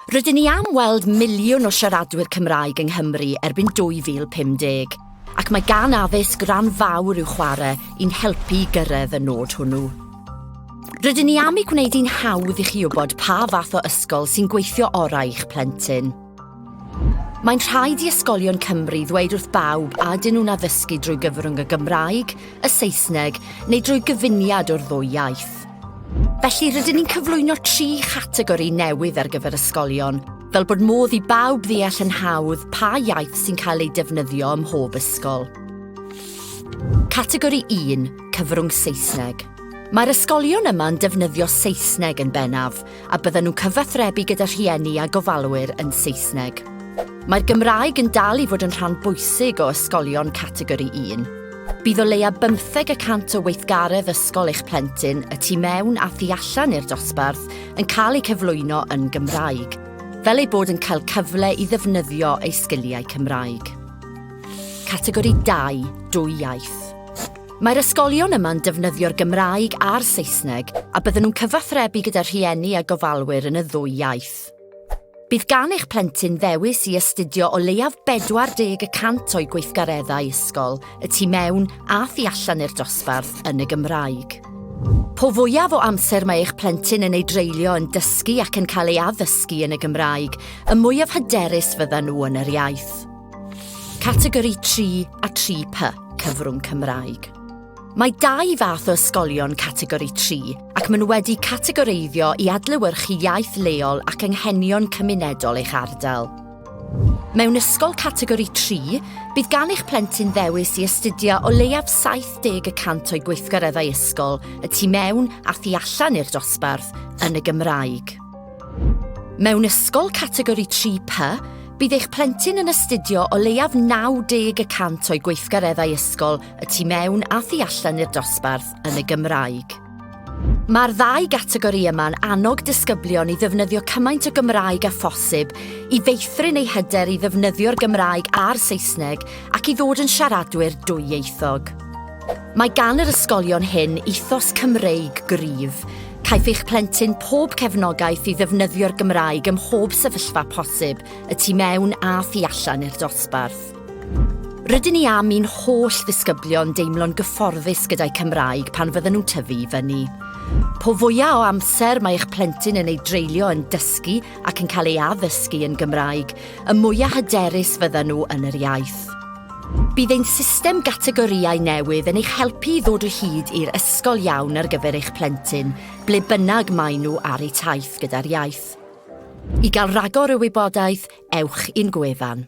Rydyn ni am weld miliwn o siaradwyr Cymraeg yng Nghymru erbyn 2050, ac mae gan addysg ran fawr i'w chwarae i'n helpu i gyrraedd y nod hwnnw. Rydyn ni am ei gwneud hi'n hawdd i chi wybod pa fath o ysgol sy'n gweithio orau i'ch plentyn. Mae'n rhaid i ysgolion Cymru ddweud wrth bawb a dyn nhw'n addysgu drwy gyfrwng y Gymraeg, y Saesneg neu drwy gyfuniad o'r ddwy iaith. Felly rydyn ni'n cyflwyno tri chategori newydd ar gyfer ysgolion, fel bod modd i bawb ddeall yn hawdd pa iaith sy'n cael ei defnyddio ym mhob ysgol. Categori 1, cyfrwng Saesneg. Mae'r ysgolion yma'n defnyddio Saesneg yn bennaf, a byddan nhw'n cyfathrebu gyda rhieni a gofalwyr yn Saesneg. Mae'r Gymraeg yn dal i fod yn rhan bwysig o ysgolion Categori 1. Bydd o leia bymtheg y cant o weithgaredd ysgol eich plentyn, y tu mewn a thu allan i'r dosbarth, yn cael eu cyflwyno yn Gymraeg, fel eu bod yn cael cyfle i ddefnyddio eu sgiliau Cymraeg. Categori 2, Dwy Iaith. Mae'r ysgolion yma'n defnyddio'r Gymraeg a'r Saesneg a bydden nhw'n cyfathrebu gyda rhieni a gofalwyr yn y ddwy iaith. Bydd gan eich plentyn ddewis i astudio o leiaf 40 y cant o'i gweithgareddau ysgol, y tu mewn a thu allan i'r dosbarth, yn y Gymraeg. Po fwyaf o amser mae eich plentyn yn ei dreulio yn dysgu ac yn cael ei addysgu yn y Gymraeg, y mwyaf hyderus fyddan nhw yn yr iaith. Categori 3 a 3P, cyfrwng Cymraeg. Mae dau fath o ysgolion categori 3 ac maen nhw wedi categoreiddio i adlewyrchu iaith leol ac anghenion cymunedol eich ardal. Mewn ysgol categori 3, bydd gan eich plentyn ddewis i astudio o leiaf 70 y cant o'i gweithgareddau ysgol y tu mewn a thu allan i'r dosbarth yn y Gymraeg. Mewn ysgol categori 3 PA, bydd eich plentyn yn astudio o leiaf 90 y cant o'i gweithgareddau ysgol y tu mewn a thu allan i'r dosbarth yn y Gymraeg. Mae'r ddau gategori yma'n annog disgyblion i ddefnyddio cymaint o Gymraeg â phosib i feithrin eu hyder i ddefnyddio'r Gymraeg a'r Saesneg ac i ddod yn siaradwyr dwyieithog. Mae gan yr ysgolion hyn ethos Cymreig gryf, Caiff eich plentyn pob cefnogaeth i ddefnyddio'r Gymraeg ym mhob sefyllfa posib, y tu mewn a thu allan i'r dosbarth. Rydyn ni am i'n holl ddisgyblion deimlo'n gyfforddus gyda'u Cymraeg pan fydden nhw'n tyfu i fyny. Po fwyaf o amser mae eich plentyn yn ei dreulio yn dysgu ac yn cael ei addysgu yn Gymraeg, y mwyaf hyderus fyddan nhw yn yr iaith. Bydd ein system gategorïau newydd yn eich helpu i ddod o hyd i'r ysgol iawn ar gyfer eich plentyn, ble bynnag maen nhw ar eu taith gyda'r iaith. I gael rhagor o wybodaeth, ewch i'n gwefan.